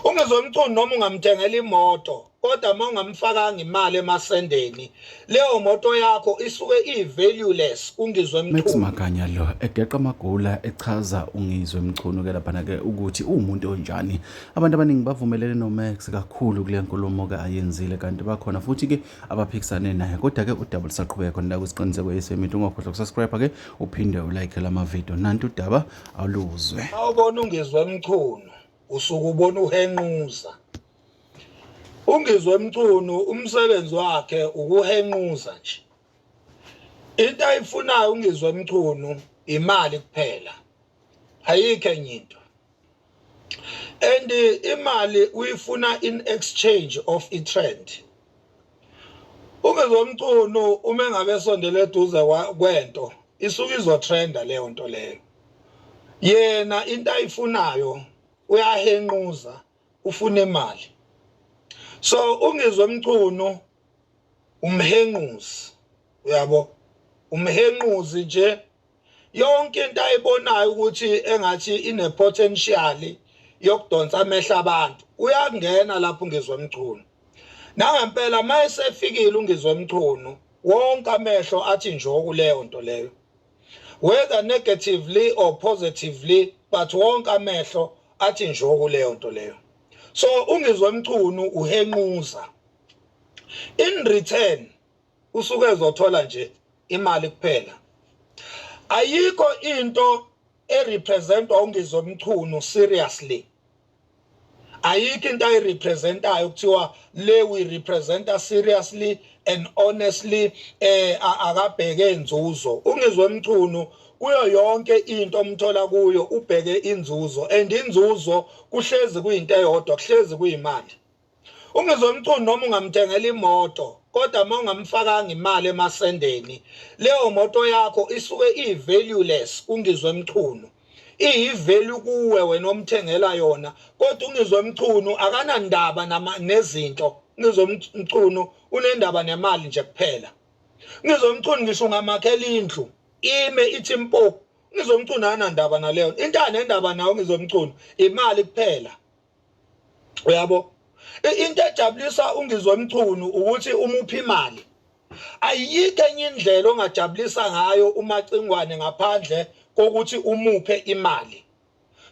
Ungizomcuni noma ungamthengela imoto kodwa uma ungamfakanga imali emasendeni leyo moto yakho isuke i-valueless kungizwe Max mchunu Maganya lo egeqa amagula echaza uNgizwe Mchunu ke laphana ke ukuthi uwumuntu onjani. Abantu abaningi bavumelene noMax kakhulu kule nkulumo ke ayenzile kanti bakhona futhi ke abaphikisane naye kodwa-ke udaba lusaqhubeka khona la kwisiqiniseko esemit ungakhohlwa kusubscribe ke uphinde ulike la mavidiyo nanti udaba aluzwe awubona ungizwe emchunu usuke ubona uhenquza ungizwe emchunu umsebenzi wakhe ukuhenquza nje into ayifunayo ungizwe emchunu imali kuphela ayikho enye into and imali uyifuna in exchange of i-trend umezomcuno uma engabe esondele eduze kwento isuke izotrenda leyo nto leyo yena into ayifunayo uyahenquza ufuna imali so ungizwe mcuno umhenquzi uyabo umhenquzi nje yonke into ayibonayo ukuthi engathi ine potential yokudonsa amehla abantu uyangena lapho ngizwe mchunu nangempela mayesefikile ungizwe mchunu wonke amehlo athi njoku leyo nto leyo whether negatively or positively but wonke amehlo athi njoku leyo nto leyo so ungizwe mchunu uhenquza in return usuke ezothola nje imali kuphela ayikho into erepresentwa ungizwe mchunu seriously ayikho into ayirepresentayo kuthiwa le we representa seriously and honestly eh akabheke inzuzo ungizwe mchunu kuyo yonke into omthola kuyo ubheke inzuzo and inzuzo kuhlezi kuyinto eyodwa kuhlezi kuyimali Ungizwe Mchunu noma ungamthengela imoto kodwa uma ungamfakanga imali emasendeni leyo moto yakho isuke iyi-valueless kungizwe Mchunu iyivalue kuwe wena omthengela yona kodwa ungizwe Mchunu akanandaba nezinto ngizwe Mchunu unendaba nemali nje kuphela ngizwe Mchunu ngisho ungamakhela indlu ime ithi mpo ngizwe Mchunu anandaba naleyo into anendaba nayo ngizwe Mchunu imali kuphela uyabo into ejabulisa ungizwe mchunu ukuthi umuphi imali ayikho enye indlela ongajabulisa ngayo umacingwane ngaphandle kokuthi umuphe imali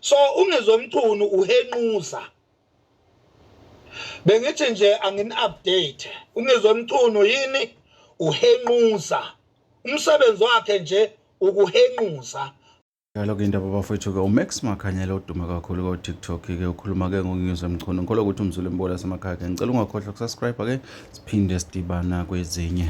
so ungizwe mchunu uhenquza bengithi nje angini-update ungizwe mchunu yini uhenquza umsebenzi wakhe nje ukuhenquza Njalo-ke indaba bafowethu-ke uMax Makhanyela odume kakhulu ko-TikTok-ke ukhuluma-ke ngoNews Mchunu ngikholwa ukuthi umzulu embola asemakhaya-ke ngicela ungakhohlwa ukusubscribe-ke siphinde sidibana kwezinye